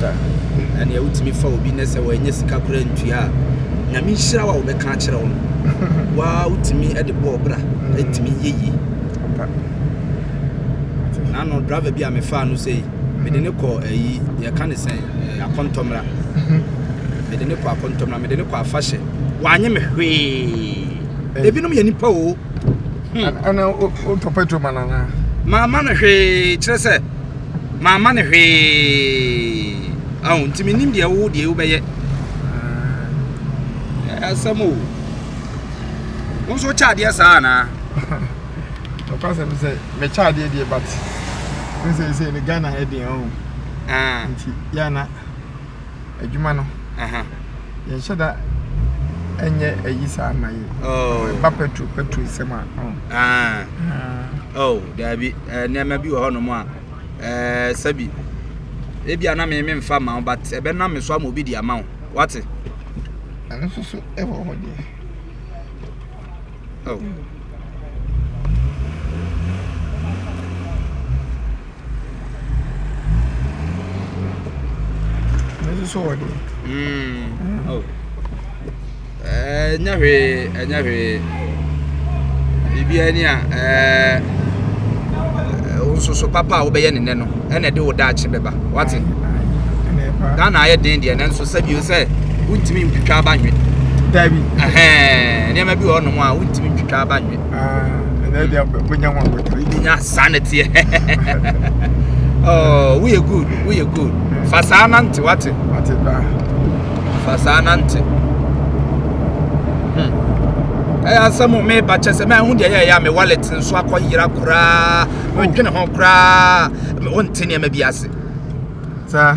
Sɛ ɛneɛ wotumi fa obi nɛ sɛ wanya sika koraa ntua a nyame nhyira wo a wobɛka akyerɛ wo no waa wotumi de bɔɔ bra ɛtumi yɛ yie na no driver bi a mefaa no sɛ mede ne kɔ ayi yɛka ne sɛ akɔntɔmmra mede ne kɔ akɔntɔmmra mede ne kɔ afahyɛ wanye me hwee ebinom yɛ nipa o ɛna wotɔ petrol ma no anaa maama no hwee kyerɛ sɛ Mamma no hwee. Ahu, nti menim deɛ wo deɛ wobɛyɛ. Ɛɛ, asɛm o. Wo nso wokyɛ adeɛ saa anaa? Nokwasɛm sɛ, mekyɛ adeɛ deɛ but, wo sɛ sɛ ne Ghana ɛdeɛ ɔho. Ah. Nti, yɛ ana. adwuma no yɛnhyɛ da ɛnyɛ ayi saa ma yɛ oh. ɛba petro petro nsɛm a oh. Ah. Ah. oh daabi eh, nneɛma bi wɔ hɔnom a eh, sɛbi ebi a na me me mfa ma wo but ɛbɛnam me so ama obi de ama wo wate ɛno nso so ɛwɔ hɔ deɛ ɛnyɛ hwee ɛnyɛ hwee biribiara ni a ɛɛ nsoso papa a wobɛyɛ ne nɛ no ɛna ɛde wo daakye bɛba wate ghana ayɛ den deɛ nanso Sɛ bio sɛ wontumi ntwitwa aba nwe. Dabi. Ɛhɛn nneɛma bi wɔ nom a wontumi ntwitwa aba nwe. Ah, ɛnna ɛdi abɔ bonya ho abotire. Bonya saa na teɛ. Oh, woyɛ good, woyɛ good. Fa saa nante wate. Wate ba. Fa saa nante. Hmm. Ɛyɛ asɛm o meba kyɛ sɛ mahu deɛ yɛyɛ a me wallet nso akɔyera koraa. Medwene ho koraa. Wonte nneɛma bi ase. Saa.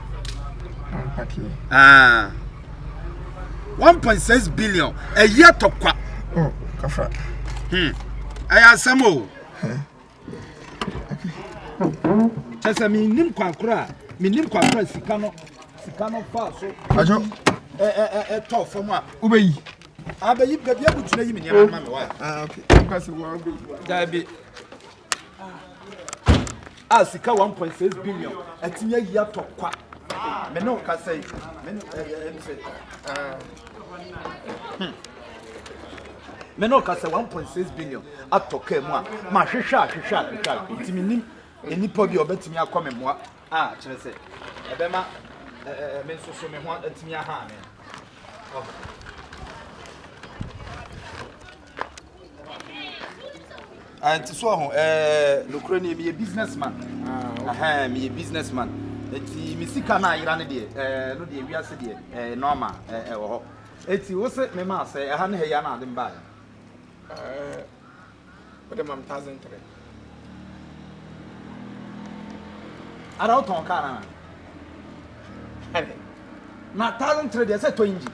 Ah. 1.6 billion ɛyi atɔkwa oh, hmm. ɛyɛ asɛm o kyɛ sɛ mennim kwakora a mennim kwakora sika no sika no faa so ɛtɔ fam a wobɛyi abɛyi baabi abukyerɛ yi me nneɛma ma me wa ah, daabi a sika 1.6 billion atumi ayi atɔ kwa me ne wo kasa yi me ne ɛyɛ nsɛ me ne wo kasa 1.6 billion atɔ kaa mu a mahwehwɛ ahwehwɛ ahwehwɛ ahwehwɛ nti menim nnipa bi a ɔbɛtumi akɔ me mmoa a kyerɛ sɛ ɛbɛma me nso so me ho atumi aha me nti so ɔho ɛɛ nokorɛ ni meyɛ business man ɛhɛn meyɛ business man nti me sika no ayera no deɛ ɛɛ no deɛ wiase deɛ ɛɛ nɔɔma ɛɛ ɛwɔ hɔ nti wo se me ma sɛ ɛha ne ha yi ana ade mbaeɛ. wode ma me thousand three ara wotɔn kaa no ana na thousand three deɛ sɛ tɔ engine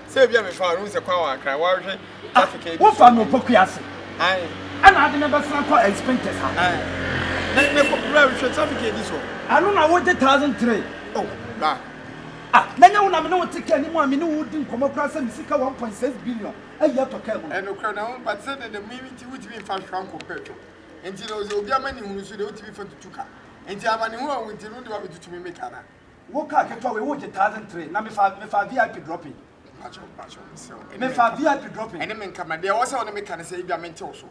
sɛ bia mefa no sɛ kwan wankra woahwɛ traffic ah, wofa no ɔpɔkua ase ɛna ade no bɛsena kɔ expenses a hwɛ traffic ɛdi so ɛno na wogye thousand three oh, ah, na nyɛ wo na mene wo te ka anim a mene wo di nkɔmmɔ koraa sɛ me sika 1.6 billion ayi atɔ kaa mu no. Nokorɛ no, ampa te sɛ deɛ dɛm no nti wotumi mfa hwa nkɔ pɛtrol nti no, sɛ obi amanehunu so deɛ wotumi fa tutu ka. Nti amanehunu a wonti no wode wabɛtutu me me ka no a. Wo kaa ketewa wei wogye thousand three na mefaa mefaa VIP dropping. Mpakyɛw mpakyɛw mesrɛ wo. Mefaa VIP dropping. Ɛne me nka ma deɛ ɛwɔ sɛ wone me ka ne sɛ ebia mente wo so.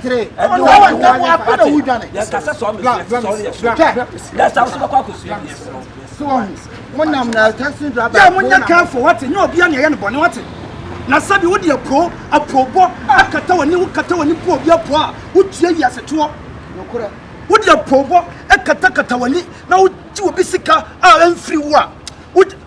three ɛdi wa ɛdi wa ɛdi wa ɛdi wa ɛdi yɛn kasa sɔɔ mi fi ɛti sɔɔ yɛ so dɛsɛ awo sɔbɛ kɔ akosu yɛ yɛ sɔɔ. so wɔn mo nam na tɛsi dura bɛ. yɛ mo nyɛ kan fo wate nyɛ obi a na yɛ no bɔ ne wate na sɛbi wode apuro apuobɔ akata w'ani wokata w'ani po obi apuo a wotua wiase toɔ wode apuobɔ ɛkatakata w'ani na wogye obi sika a ɛmfiri wo a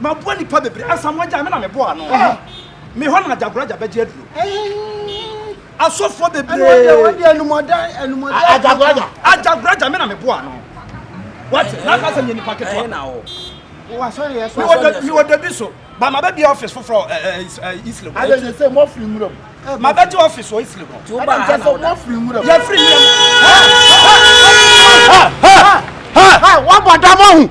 Maboa nnipa bebree. Asamoah agya me na meboa ano. Me hɔ na agyagoro agya bɛgye aduro. Asɔfoɔ bebree. Agyagoro agya. Agyagoro agya me na meboa ano. Wate na aka sɛ nyɛ nipa ketewa. Mewɔ dabi so. Ba ma bɛbi office foforɔ Islam. Adɛsɛ sɛ mo afiri nwura mu. Ma bɛgye office wɔ Islam. Adɛsɛ sɛ mo afiri nwura mu. Yɛfiri nwura mu. Wabɔ dam ahu.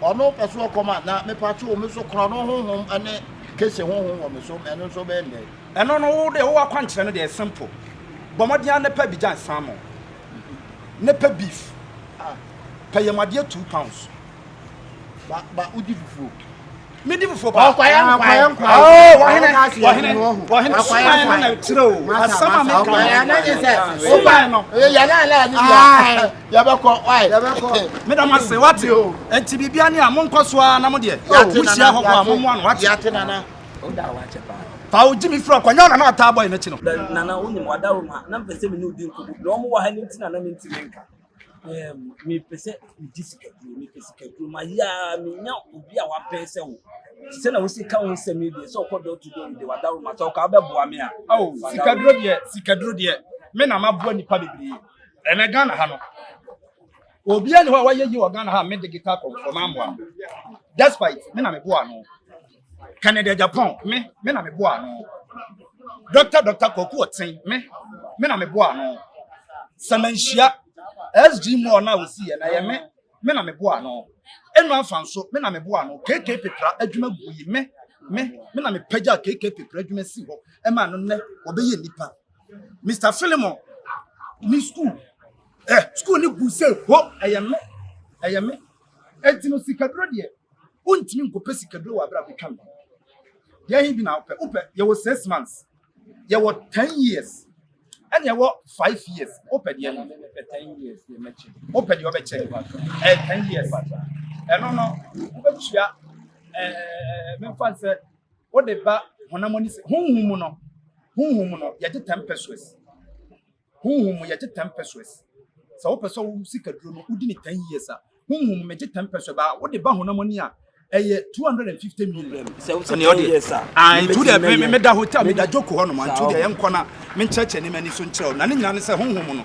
Ɔno pɛ so ɔkɔm a, na mepatwo me so korɔn no honhom ne kese honhom wɔ me so, ɛno nso bɛyɛ ndɛn? Ɛno no wo deɛ wo akwankyerɛ no deɛ simple, bɔ mmɔden ara na pɛ bi gyan salmon, na pɛ beef, pɛ yamuadeɛ two pounds. Ba ba wodi fufuo. Me di fufuo paa. Ɔkwayɛ nkwayɛ nkwayɛ. Oh wahene wahene wahene suman no na ɛkyerɛ o. Asɛm a meka no. Suman no. Yɛ yɛ ala ala ni bi a. yɛbɛkɔ wae yɛbɛkɔ meda mo ase wate o nti biribia ne a monkɔ so ara na mo deɛ mohyia hɔ bɔ a mommoa no wate yɛate nana woda a wakyɛ paa fa wo gyi me firi ɔkɔnyɛ ɔna na ɔtaa bɔ yɛ n'akyi no nana wonim wada wo ma na mpɛ sɛ me ne wodi nkɔmmɔ na ɔmo wɔ ha no nti na na mentumi nka mepɛ sɛ megye sikaduro mepɛ sikaduro mayɛ a menya obi a wapɛn sɛ wo sɛ na wosi ka wo nsɛm yi deɛ sɛ ɔkɔ dɔ to dɔ de wada wo ma sɛ ɔka wobɛboa me a sikaduro deɛ sikaduro deɛ me na maboa nnipa bebree Ɛnɛ Ghana ha no, obiara ni hɔ a wayɛ yi wɔ Ghana ha a me de guitar kɔ so mammoa no. Despite me na me boa no. Kennedy Agyapong me me na me boa no. Dr. Dr. Kwaku Ɔten me me na me boa no. Sɛ manhyia SG Moore na osi yɛ na yɛ me me na me boa no. Enu afa nso me na me boa no. KK Pepra adwuma gu yi me me me na me pagya KK Pepra adwuma si hɔ ɛma no nnɛ ɔbɛyɛ nipa. mr philemon ne skuul ɛ eh, skuul ne gu sɛ ho ɛyɛ me ɛyɛ me ɛnti no sikaduro deɛ wontumi nkɔpɛ sikaduro wɔ abere a bɛtwa me deɛ he bi na wopɛ wopɛ yɛwɔ six months yɛwɔ ten years ɛne ɛwɔ five years wopɛ deɛ no wopɛ deɛ wɔbɛkyɛ ɛyɛ ten years ɛno no wobɛtua ɛɛ memfa sɛ Wode ba honam ani sɛ. Honhom mu no, honhom mu no, yɛgye ten pesos. Honhom mu, yɛgye ten pesos. Sɛ wopɛ sɛ wo sika duro no, wodi ne ten years a, honhom mu, megye ten pesos. Ba wode ba honam ani a, ɛyɛ two hundred and fifty million. Sɛ wosɛ ten years a, ah, ntu deɛ me, me, meda hotel, meda joko hɔ nom, ntu deɛ yɛnkɔ na menkyerɛkyerɛ ne m'ani so nkyerɛ wo. Na ne nyinaa ne sɛ honhom mu no,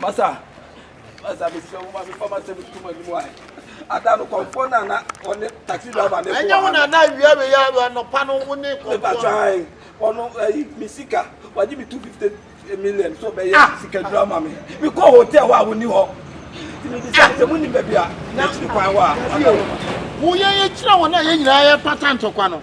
Masa, masa mesrɛ wo ma me fa m'asɛm nto m'anim ae. Ada no kɔmfoɔ no a na ɔne taxi driver ne ko Ɛnyɛ wo na na awia wei a anɔpa no wo ne kɔmfoɔ. Mepatwa ae, ɔno ayi me sika, wagye me 250 million sɛ ɔbɛyɛ ah! sikadura ma me. Mekɔɔ hotel hɔ a wɔnni hɔ. Nti mebisa sɛ monim baabi a akyiri kwan hɔ a. Woyɛ yɛkyerɛ wɔn a yɛn nyinaa yɛpata ntɔkwa no.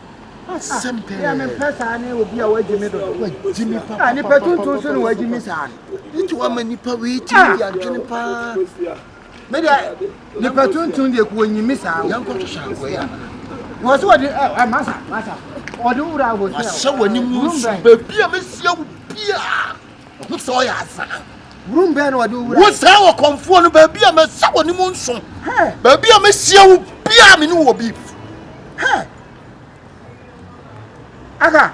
asɛm pɛɛ. Yɛ me pɛ saa ne obi a wagye me dodo. Wagye me papa. A nipa tuntun so na wagye me saa no. Nti wama nipa wei ti mi di adwene paa. Me deɛ nipa tuntun deɛ ko wɔnyi me saa. Yɛn kɔ twehwɛ akoa yi ana. Wɔ so wɔde ɛ ɛ masa masa wɔde wura hotel. Wasɛ wɔ ne mu nsu beebi a mesia wo bia. Ɔho sɛ ɔyɛ azaa. Wurum bɛn na ɔde owura. Wo saa ɔkɔmfoɔ no, baabi a mɛsɛ wɔ ne mu nso. Baabi a mɛhyia wo biara me ne wɔ bi. Aka.